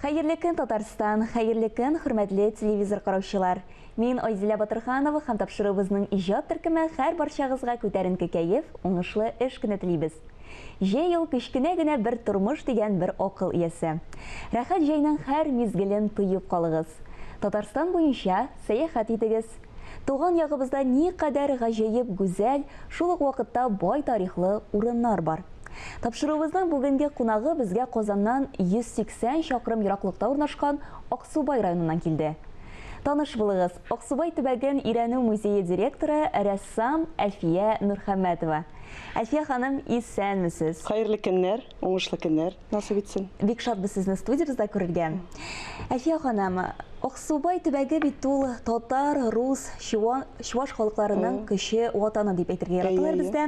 Хәерле көн, Татарстан! Хәерле көн, хөрмәтле телевизор караучылар! Мин Айзилә Батырханова һәм тапшыруыбызның иҗат төркеме хәр барчагызга күтәренке кәеф, уңышлы эш көне телибез. Җәй ул кечкенә генә бер тормыш дигән бер акыл иясе. Рәхәт җәйнең хәр мизгелен тоеп калыгыз. Татарстан буенча сәяхәт итегез. Туган ягыбызда никадәр гаҗәеп гүзәл, шул ук вакытта бай тарихлы урыннар бар. Тапшыруыбызның бүгенге кунагы безгә Казаннан 180 чакрым ераклыкта урнашкан Аксубай районыннан килде. Таныш булыгыз, Аксубай төбәген өйрәнү музее директоры, рәссам Әлфия Нурхәммәтова. Әлфия ханым, исәнмесез! Хәерле көннәр, уңышлы көннәр! насыйп итсен. Бик шатбыз сезне студиябездә күрергә. Әлфия ханым, Аксубай төбәге бит ул татар, рус, чуан, чуаш халыкларының көче ватаны дип әйтергә яраталар бездә.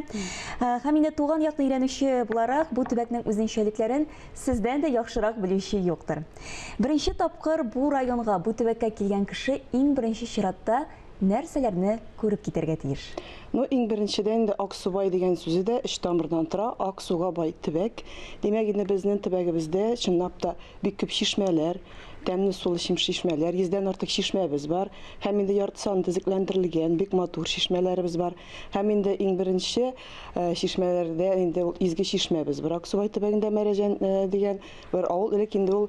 Һәм инде туган якны өйрәнүче буларак, бу төбәкнең үзенчәлекләрен сездән дә яхшырак белүче юктыр. Беренче тапкыр бу районга, бу төбәккә килгән кеше иң беренче чиратта Нәрсәләрне күреп китәргә тиеш? Ну, иң беренчедән инде Аксубай дигән сүзе дә өч тамырдан тора, ак суга бай төбәк. Димәк инде безнең төбәгебездә, чынлап та, бик күп чишмәләр, тәмле сулы чишмәләр, йөздән артык чишмәбез бар. Һәм инде ярты саны төзекләндерелгән, бик матур чишмәләребез бар. Һәм инде иң беренче чишмәләрдә инде ул изге чишмәбез бар. Аксубай төбәгендә Мәрәҗән дигән бер авыл, элек инде ул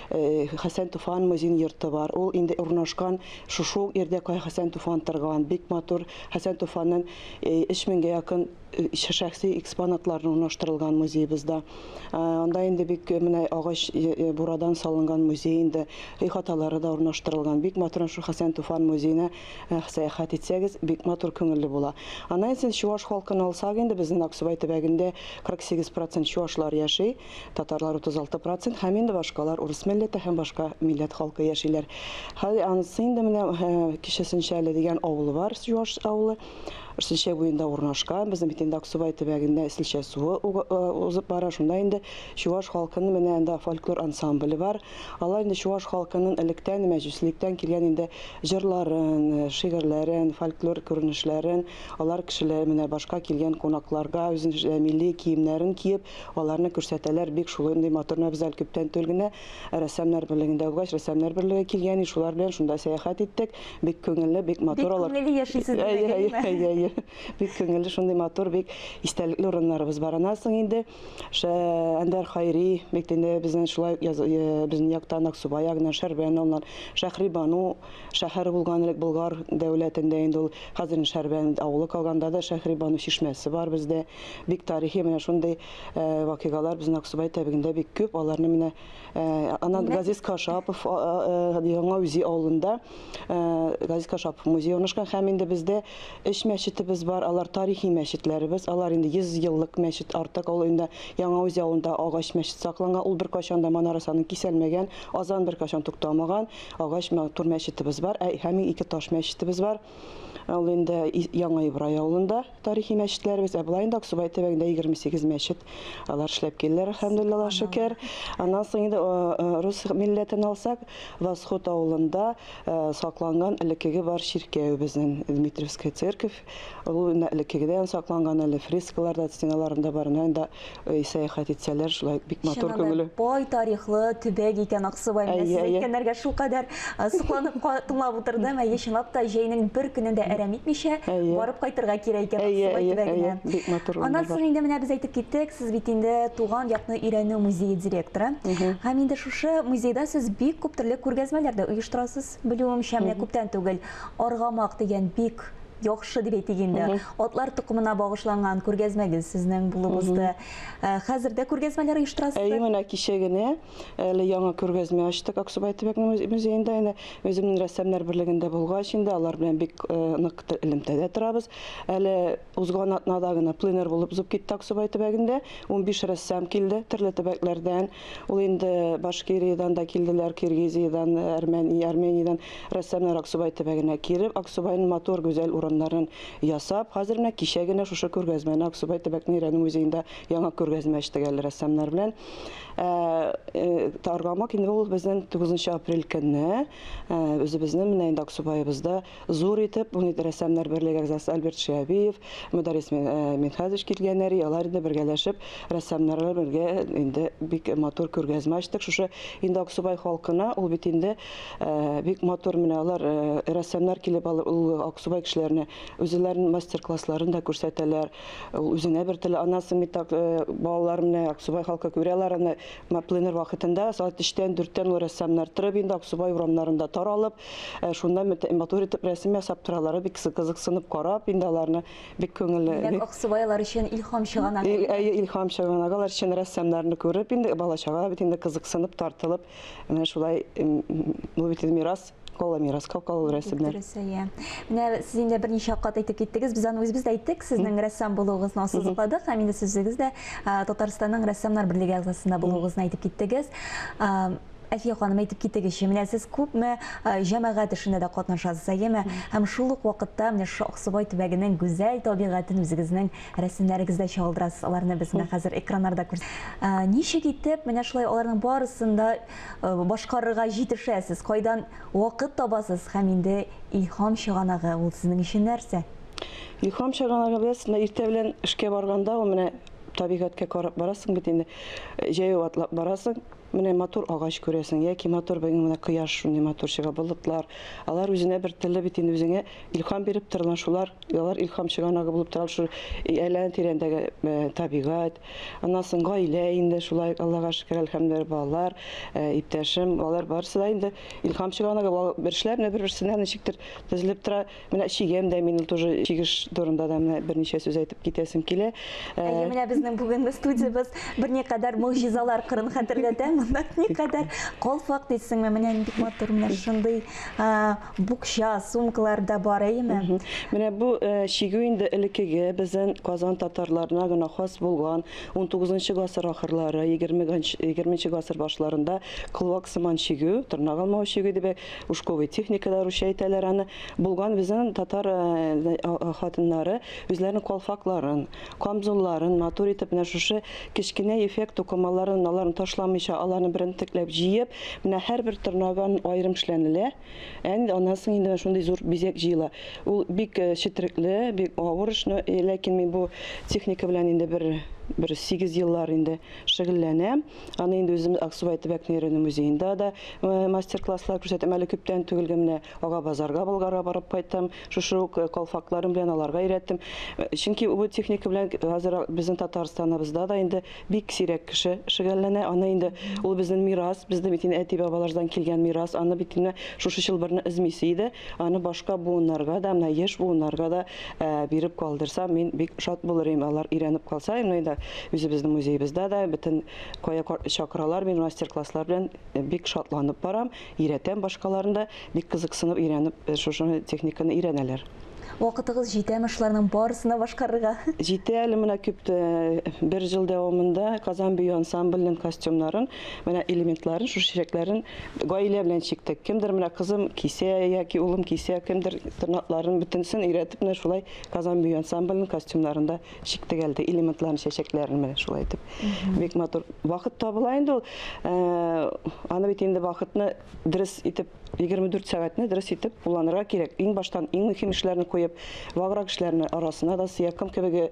Хәсән Туфан музин йорты бар. Ул инде урнашкан шушы ук ирдә кая Хәсән Туфан торган. Бик матур Хәсән Туфаннын 3000гә якын шәхси экспонатлар урнаштырылган музеебызда. Анда инде бик менә агач бурадан салынган музей инде. Өй хаталары да урнаштырылган. Бик матур шул Хәсән Туфан музеена сәяхәт итсәгез, бик матур күңелле була. Аннан сез чуаш халкын алсак инде безнен Аксубай төбәгендә 48 процент чуашлар яши. Татарлар 36 процент һәм инде башкалар урыс милләте һәм башка милләт халкы яшиләр. Хәзер анысы инде менә кичәсенчә әле дигән авылы бар, Юаш авылы. Силчә буенда урнашкан, безнең бит инде Аксубай төбәгендә Силчә суы узып бара, шунда инде Чуваш халкының менә анда фольклор ансамбле бар. Алар инде Чуваш халкының электән мәҗүслектән килгән инде җырларын, шигырьләрен, фольклор күренешләрен, алар кешеләре менә башка килгән кунакларга үзенең милли киемнәрен киеп, Аларны күрсәтәләр, бик шулындый матур нәбзәл күптән түл генә рәссамнар берлегендә укыгач, рәссамнар берлеге килгән и шулар белән шунда сәяхәт иттек, бик күңелле, бик матур алар. Бик күңелле яшисез димәк, әйе, әйе, әйе, әйе, бик күңелле, шундый матур, бик истәлекле урыннарыбыз бар. Аннан соң инде шә Әндәр Хайри, бик инде безнең шулай яз безнең яктан Аксубай ягыннан Шәрбән алар, Шәһри Бану шәһәре булган элек Болгар дәүләтендә инде ул, хәзер инде Шәрбән авылы калган, анда да Шәһри Бану чишмәсе бар бездә. Бик тарихи менә шундый вакыйгалар безнең Аксубай тәбигендә бик күп. Аларны менә анан Газиз Кашапов яңа үзи авылында Газиз Кашапов музей урнашкан һәм инде бездә өч мәчетебез бар. Алар тарихи мәчетләребез. Алар инде 100 еллык мәчет артык. Ул инде яңа үзи авылында агач мәчет сакланган. Ул беркайчан да манарасының киселмәгән, азан беркайчан туктамаган агач матур мәчетебез бар. Ә һәм ике таш мәчетебез бар. Ә ул инде Яңа Ибрай авылында тарихи мәчетләребез, ә болай инде Аксубай төбәгендә 28 мәчет алар эшләп килделәр, әлхәмдулилла шөкер. Аннан соң инде рус милләтен алсак, Восход авылында сакланган элеккеге бар чиркәвебезнең Дмитриевская церковь, ул элеккегедән сакланган әле фрескаларда, стеналарында бар, инде Ой, сәяхәт итсәләр, шулай бик матур күңеле. Чыннан да бай тарихлы төбәк икән Аксубай. Менә сез әйткәннәргә шулкадәр сокланып тыңлап утырдым. Әйе, чынлап та, җәйнең бер көнен дә әрәм итмичә, барып кайтырга кирәк икән Аксубай төбәгенә. Бик матур. Аннан соң инде менә без әйтеп киттек, сез бит инде Туган якны өйрәнү музее директоры. Һәм инде шушы музейда сез бик күп төрле күргәзмәләр дә оештырасыз. Белүемчә, менә күптән түгел Аргамак дигән бик яхшы дип әйтик инде. Атлар токымына багышланган күргәзмәгез сезнең булып узды. Э, хәзер дә күргәзмәләр оештырасызбы? Әйе, менә кичә генә әле яңа күргәзмә ачтык Аксубай төбәк музеенда. Әнә үземнең рәссамнар берлегендә булгач инде алар белән бик э, нык элемтәдә торабыз. Әле Узган атнада гына пленэр булып узып китте Аксубай төбәгендә. Унбиш рәссам килде төрле төбәкләрдән. Ул инде Башкириядән дә килделәр, Киргизиядән, Армениядән рәссамнар Аксубай төбәгенә килеп, Аксубайның матур, гүзәл урыннарын ясап, хәзер менә кичә генә шушы күргәзмәне Аксубай төбәкнең Рәнү музеенда яңа күргәзмә ачтык әле рәссамнар белән. Аргамак инде ул безнең 9 апрель көнне үзебезнең менә инде Аксубаебызда Зур итеп Унит рәссамнар берлеге әгъзасы Альберт Шиабиев, Мөдарис Мин- э, Минхазович килгәннәр, и, алар инде бергәләшеп рәссамнарлар бергә инде бик матур күргәзмә ачтык. Шушы инде Аксубай халкына ул бит инде э, бик матур менә алар э, рәссамнар килеп алар ул Аксубай кешеләренә үзләренең мастер-классларын да күрсәтәләр. Ул үзеңә бер теле анансың бит так, э, балалар менә Аксубай халкы күрә алар аны ма- пленэр вакытында сәгать 3-тән 4-тән ул рәссамнар торып инде Аксубай урамнарында таралып Э, шунда матур итеп рәсем ясап торалар бик кызыксынып карап инде аларны бик күңелле димәк аксубайлар өчен илһам чыганагы әйе илһам чыганагы алар өчен рәссамнарны күреп инде бала чага бит инде кызыксынып тартылып менә шулай бу бит мирас кала мирас калкалу рәсемнәр дөрес әйе менә сез инде берничә кат әйтеп киттегез без аны үзебез дә әйттек сезнең рәссам булуыгызны ассызыкладык һәм инде сүзегез дә татарстанның рәссамнар берлеге әгъзасында булуыгызны әйтеп киттегез Әфия ханым, әйтеп китегезче, менә сез күпме җәмәгать эшендә дә катнашасыз, әйеме? Һәм шул ук вакытта менә шушы Аксубай төбәгенең гүзәл табигатен үзегезнең рәсемнәрегездә чагылдырасыз. Аларны без менә хәзер экраннарда күр. Ничек итеп менә шулай аларның барысын да башкарырга җитешәсез? Кайдан вакыт табасыз? Һәм инде илһам чыганагы ул сезнең өчен нәрсә? Илһам чыганагы без менә иртә белән эшкә барганда, ул менә табигатькә карап барасың бит инде, җәяү атлап барасың. Менә матур агач күрәсең, яки матур бер менә кояш шундый матур чыга, болытлар. Алар үзенә бер теле бит инде үзеңә илһам биреп торган шулар, алар илһам чыганагы булып тора шул әйлән тирәндәге э, табигать. Аннан соң гаилә инде шулай Аллага шөкер әлхәмдүлилләһ балалар, э, иптәшем, алар барысы да инде илһам чыганагы бер эшләр бер-берсенә ничектер төзелеп тора. Менә чигәм дә мин тоже чигеш турында да менә берничә сүз әйтеп китәсем килә. Ә, Әйе, менә безнең бүгенге студиябез берникадәр могҗизалар кырын хәтерләтә. Монда никадәр колфак дисеңме? Менә нинди матур, менә шундый а, букча, сумкалар да бар, әйеме? Менә бу э, чигү инде элеккеге безнең Казан татарларына гына хас булган 19 гасыр ахырлары, 20 гасыр башларында колвак сыман чигү, тырнак алмау чигү дип Ушковый техникада русча әйтәләр аны. Булган безнең татар э, э, э, хатыннары үзләренең калфакларын, камзулларын матур итеп менә шушы кечкенә эффект тукымаларын аларын ташламыйча, аларны берентекләп җыеп, менә һәрбер тырнаган аерым эшләнелә. Әнде аннан соң инде шундый зур бизәк җыела. Ул бик четерекле, бик авыр эш, ләкин мин бу техника белән инде бер бер 8 еллар инде шөгыльләнәм. Аны инде үзем Аксубай төбәк нейроны музеенда да э, мастер-класслар күрсәтәм. Әле күптән түгелге менә Ага базарга Болгарга барып кайттым. Шушы ук э, колфакларым белән аларга өйрәттем. Э, чөнки бу техника белән хәзер безнең Татарстаныбызда да инде бик сирәк кеше шөгыльләнә. Аны инде ул безнең мирас, безнең бит инде әти-бабалардан килгән мирас. Аны бит инде шушы чылбырны эзмисе иде. Аны башка буыннарга да, менә яшь буыннарга да э, биреп калдырса, мин бик шат булыр идем. Алар өйрәнеп калса, инде да үзебезнең музеебездә дә бөтен кая чакыралар, мин мастер-класслар белән э, бик шатланып барам, өйрәтәм башкаларын да, бик кызыксынып өйрәнеп, э, шушы техниканы өйрәнәләр. Вакытыгыз җитәме шуларның барысына башкарырга? Җитә әле менә күп бер ел дәвамында Казан бию ансамбленең костюмнарын Менә элементларын, шушы чәчәкләрен гаилә белән чиктек. Кемдер менә кызым кисә яки улым кисә, кемдер тырнакларын бөтенсен өйрәтеп менә шулай Казан бию ансамбленең костюмнарында чиктек әлде элементларын, чәчәкләрен менә шулай итеп. Бик матур. Вакыт табыла инде ул. Э, аны бит инде вакытны дөрес итеп 24 сәгатьне дөрес итеп кулланырга кирәк. Иң баштан иң мөһим эшләрне куеп, ваграк эшләрне арасына да сыя, кем кебеге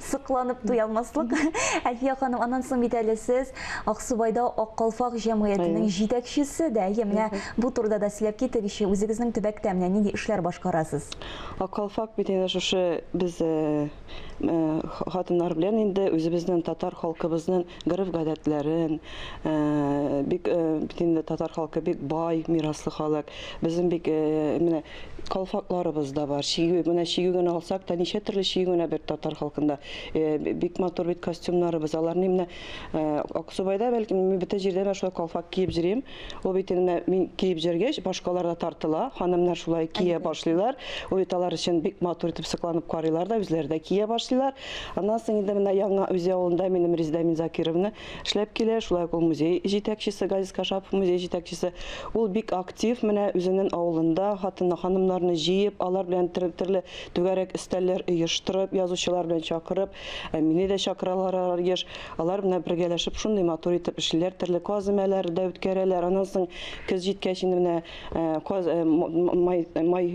сокланып туя алмаслык. Әлфия ханым, аннан соң бит әле сез Аксубайда Ак калфак җәмгыятенең җитәкчесе дә. Әйе, менә бу турыда да сөйләп китегезче, үзегезнең төбәктә менә нинди эшләр башкарасыз? Ак калфак бит инде шушы без э, э, хатыннар белән инде үзебезнең татар халкыбызның гореф-гадәтләрен, э, бик бит инде татар халкы бик бай мираслы халык. Безнең бик менә Калфакларыбыз да бар. Чигү, менә чигү генә алсак та, ничә төрле чигү генә бит татар халкында. Бик матур бит костюмнарыбыз. Аларны менә Аксубайда, бәлки, мин бөтен җирдә менә шулай калфак киеп җөрим. Ул бит инде менә мин киеп җөргәч, башкалар да тартыла. Ханымнар шулай кия башлыйлар. Ул бит алар өчен бик матур итеп сокланып карыйлар да, үзләре дә кия башлыйлар. Аннан соң инде менә яңа Үзән авылында минем Резедә Минзакировна. Эшләп килә, шулай ук ул музей җитәкчесе, Газиз Кашапов музей җитәкчесе. Ул бик актив, менә үзенен авылында хатыннар, ханымнарны җыеп, алар белән төрле түгәрәк өстәлләр оештырып, язучылар белән чакырып, ә мине дә чакыралар алар еш, алар менә бергәләшеп шундый матур итеп эшлиләр, төрле каземәләр дә үткәрәләр, аннан соң көз җиткәч инде менә каз, май, май,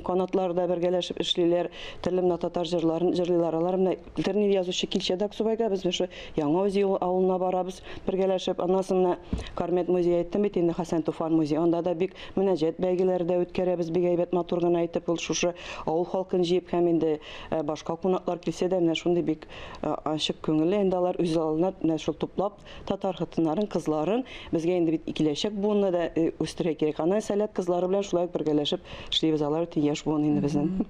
канатлар да бергәләшеп эшлиләр, төрле менә татар җырларын җырлыйлар, алар менә Интернет язучы Килчә Даксубайга без шо Яңа Үзьел авылына барабыз бергәләшеп. Аннан соң менә Кармет музее әйттем бит инде, Хәсән Туфан музее. Анда да бик мөнәҗәт бәйгеләре дә үткәрәбез, бик әйбәт матур гына итеп ул шушы авыл халкын җыеп һәм инде э, башка кунаклар килсә дә менә шундый бик э, ачык күңелле инде алар үз алдына менә шул туплап татар хатыннарын, кызларын безгә инде бит киләчәк буынны да э, үстерә кирәк. Аны сәләт кызлары белән шулай ук бергәләшеп эшлибез алар өчен яшь буын инде безнең.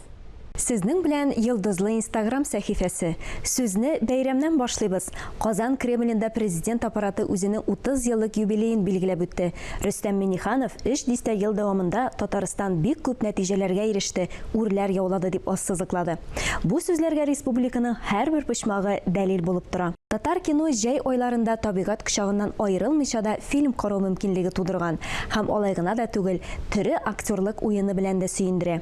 Сезнең белән Йолдызлы инстаграм сәхифәсе. Сүзне бәйрәмнән башлыйбыз. Казан Кремлендә Президент Аппараты үзенең 30 еллык юбилеен билгеләп үтте. Рөстәм Миңнеханов өч дистә ел дәвамында Татарстан бик күп нәтиҗәләргә иреште, үрләр яулады дип ассызыклады. Бу сүзләргә республиканың һәрбер почмагы дәлил булып тора. Татар кино җәй айларында табигать кочагыннан аерылмыйча да фильм карау мөмкинлеге тудырган һәм алай гына да түгел, төре актерлык уены белән дә сөендерә.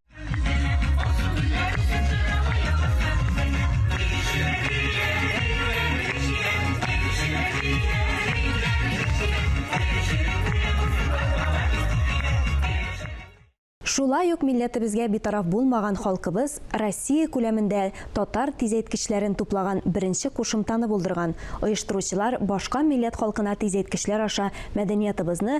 Шулай ук милләтебезгә битараф булмаган халкыбыз Россия күләмендә татар тизәйткечләрен туплаган беренче кушымтаны булдырган, оештыручылар башка милләт халкына тизәйткечләр аша мәдәниятыбызны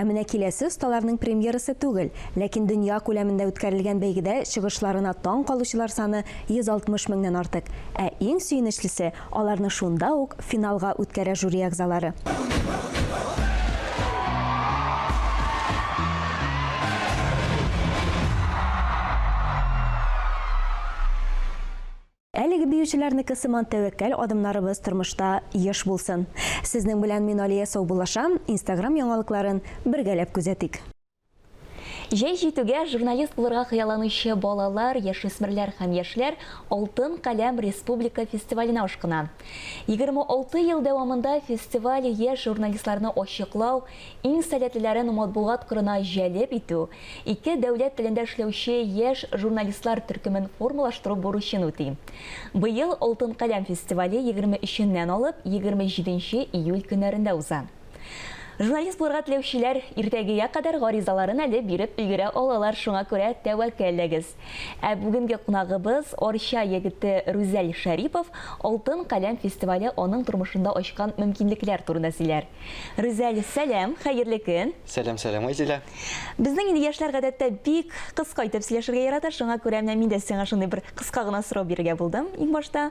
Ә менә киләсе осталарның премьерасы түгел, ләкин дөнья күләмендә үткәрелгән бәйгедә чыгышларына таң калучылар саны 160 меңнән артык. Ә иң сөенечлесе, аларны шунда ук финалга үткәрә жюри әгъзалары. Әлеге биючеләрнеке сыман тәвәккәл адымнарыбыз тормышта еш булсын! Сезнең белән мин Алия саубуллашам, инстаграм яңалыкларын бергәләп күзәтик. Җәй җитүгә, журналист булырга хыялланучы балалар, яшүсмерләр һәм яшьләр Алтын каләм республика фестиваленә ашкына. 26 ел дәвамында фестиваль яшь журналистларны ачыклау, Иң сәләтлеләрен матбугат кырына җәлеп итү, ике дәүләт телендә эшләүче яшь журналистлар төркемен формалаштыру бурычын үти. Быел Алтын каләм фестивале егерме өченнән алып егерме җиденче июль көннәрендә уза. Журналист булырга теләүчеләр иртәгегә кадәр гаризаларын әле биреп өлгерә алалар, шуңа күрә тәвәккәлләгез. Ә бүгенге кунагыбыз, Арча егете Рүзәл Шәрипов Алтын каләм фестивале аның тормышында ачкан мөмкинлекләр турында сөйләр. Рүзәл, сәлам, хәерле көн! Сәлам, сәлам, Айзилә! Безнең инде яшьләр гадәттә бик кыска итеп сөйләшергә ярата, шуңа күрә менә мин дә сиңа шундый бер кыска гына сорау бирергә булдым. Иң башта,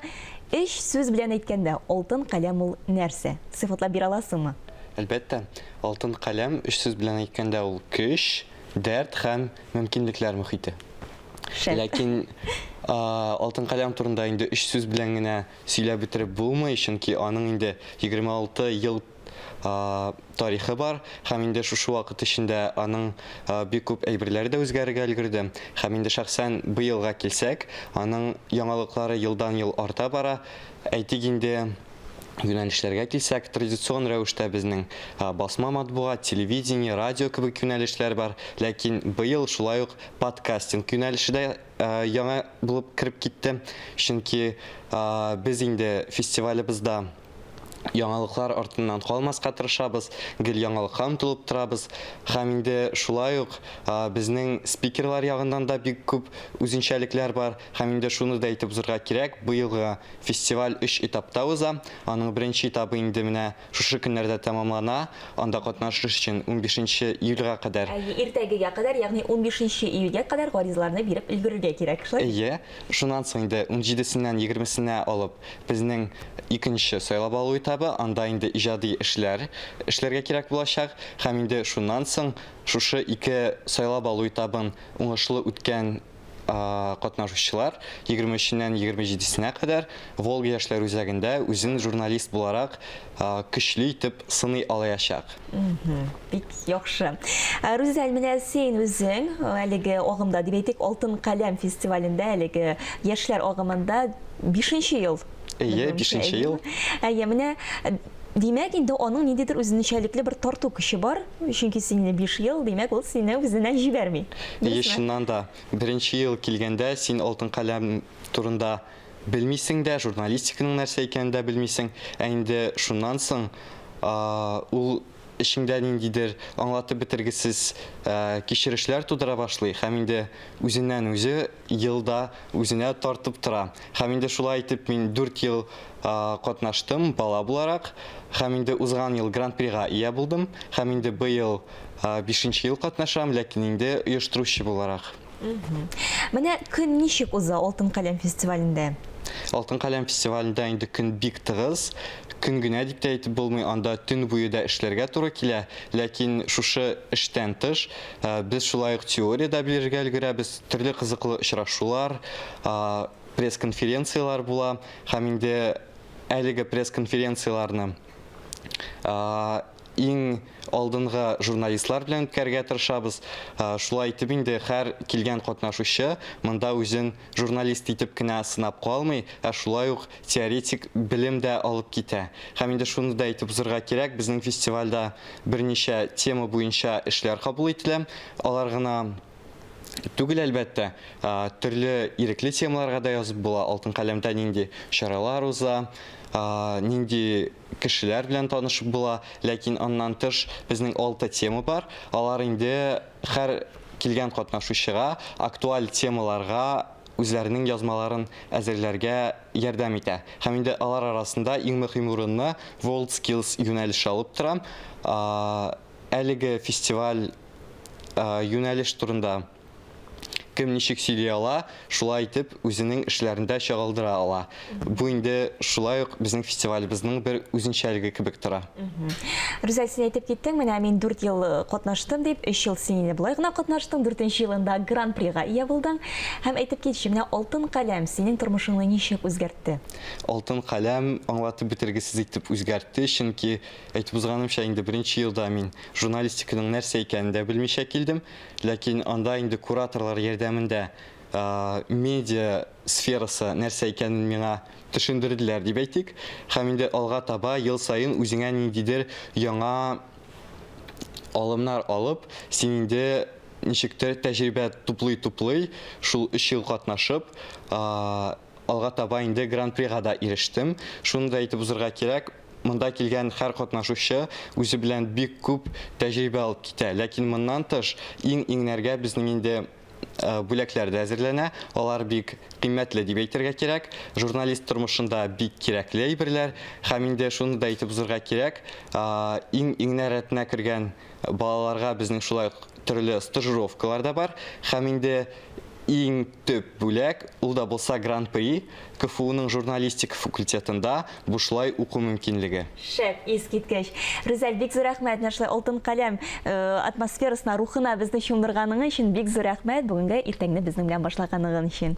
өч сүз белән әйткәндә, алтын каләм ул нәрсә? Сыйфатлап бирә аласыңмы? Әлбәттә, алтын каләм, өч сүз белән әйткәндә, ул көч, дәрт һәм мөмкинлекләр мөхите. Шәп. Ләкин алтын каләм турында инде өч сүз белән генә Сөйләп бетереп булмый, чөнки аның инде 26 ел тарихы бар, һәм инде шушы вакыт эчендә аның бик күп әйберләре дә үзгәрергә өлгерде. Һәм инде шәхсән быелга килсәк, аның яңалыклары елдан-ел арта бара. Әйтик инде, юнәлешләргә килсәк, традицион рәвештә безнең басма матбугат, телевидение, радио кебек юнәлешләр бар, ләкин быел шулай ук подкастинг юнәлеше дә Яңа булып кереп китте, чөнки без инде фестивалебызда яңалыклар артыннан калмаска тырышабыз, гел яңалыкка омтылып торабыз. Һәм инде шулай ук безнең спикерлар ягыннан да бик күп үзенчәлекләр бар. Һәм инде шуны да әйтеп узырга кирәк, быелгы фестиваль өч этапта уза. Аның беренче этабы инде менә шушы көннәрдә тәмамлана, анда катнашыш өчен унбишенче июльгә кадәр. Әйе, иртәгегә кадәр, ягъни унбишенче июльгә кадәр гаризаларны биреп өлгерергә кирәк, шулай бит? Әйе, шуннан соң инде унҗидесеннән егермесенә алып безнең икенче сайлап алу этабы, анда инде иҗади эшләр эшләргә кирәк булачак һәм инде шуннан соң шушы ике сайлап алу этабын уңышлы үткән, катнашучылар 23 ннән 27-сенә кадәр Волга яшьләр үзәгендә үзен журналист буларак көчле итеп сыный алаячак. Бик яхшы. Рүзәл, менә син үзең әлеге агымда, дип әйтик, Алтын каләм фестивалендә, әлеге яшьләр агымында 5 ел Әйе, бишенче ел. Әйе, менә Димәк, инде аның ниндидер үзенчәлекле бер тарту көче бар, чөнки сине 5 ел, димәк, ул сине үзенә җибәрми. Әйе, чыннан да, беренче ел килгәндә син алтын каләм турында белмисең дә, журналистиканың нәрсә икәнен дә белмисең, ә инде шуннан соң ул эчеңдә ниндидер аңлатып бетергесез кичерешләр тудыра башлый һәм инде үзеннән-үзе ел да үзенә тартып тора. Һәм инде шулай итеп мин дүрт ел катнаштым бала буларак, һәм инде узган ел гран-прига ия булдым, һәм инде быел бишенче ел катнашам, ләкин инде оештыручы буларак. Менә көн ничек уза Алтын каләм фестивалендә? Алтын каләм фестивалендә инде көн бик тыгыз. Көн генә дип тә әйтеп булмый, анда төн буе да эшләргә туры килә. Ләкин шушы эштән тыш, без шулай ук теория дә белергә өлгерәбез, төрле кызыклы очрашулар, пресс-конференцияләр була. Һәм инде әлеге пресс-конференцияләрне иң алдынгы журналистлар белән үткәрергә тырышабыз. Шулай итеп инде һәр килгән катнашучы монда үзен журналист итеп кенә сынап калмый, ә шулай ук теоретик белем дә алып китә. Һәм инде шуны да әйтеп узарга кирәк, безнең фестивальдә берничә тема буенча эшләр кабул ителә. Алар гына түгел, әлбәттә, төрле ирекле темаларга да язып була, Алтын каләмдә нинди чаралар уза, нинди кешеләр белән танышып була, ләкин аннан тыш безнең алты тема бар, алар инде һәр килгән катнашучыга актуаль темаларга үзләренең язмаларын әзерләргә ярдәм итә. Һәм инде алар арасында иң мөһим урынны WorldSkills юнәлеше алып тора. Әлеге фестиваль юнәлеш турында. Кем ничек сөйли ала, шулай итеп үзенең эшләрендә чагылдыра ала. Бу инде шулай ук безнең фестивалебезнең бер үзенчәлеге кебек тора. Рүзәл, син әйтеп киттең, менә мин дүрт ел э, катнаштым дип, өч ел син инде болай гына катнаштың, дүртенче елында гран-прига ия булдың. Һәм әйтеп китче, менә алтын каләм синең тормышыңны ничек үзгәртте? Алтын каләм аңлатып бетергесез итеп үзгәртте, чөнки әйтеп узганымча, инде беренче елда мин журналистиканың нәрсә икәнен дә белмичә килдем. Ләкин анда инде кураторлар ярдәмендә медиа сферасы нәрсә икәнен миңа төшендерделәр дип әйтик. Һәм инде алга таба ел саен үзеңә ниндидер яңа алымнар алып, син инде ничектер тәҗрибә туплый-туплый, шул өч ел катнашып, Алга таба инде Гран-прига да ирештем. Шуны да әйтеп узырга кирәк, монда килгән һәр катнашучы үзе белән бик күп тәҗрибә алып китә. Ләкин моннан тыш, иң иңнәргә безнең инде бүләкләр дә әзерләнә. Алар бик кыйммәтле дип әйтергә кирәк. Журналист тормышында бик кирәкле әйберләр. Һәм инде шуны да әйтеп узырга кирәк, иң иңнәр рәтенә кергән Балаларга безнең шулай ук төрле стажировкалар да бар һәм инде иң төп бүләк, ул да булса Гран-при, КФУның журналистика факультетында бушлай уку мөмкинлеге. Шәп, искиткеч! Рүзәл, бик зур рәхмәт, менә шулай алтын каләм атмосферасына, рухына безне чумдырганың өчен бик зур рәхмәт, бүгенге иртәңне безнең белән башлаганың өчен.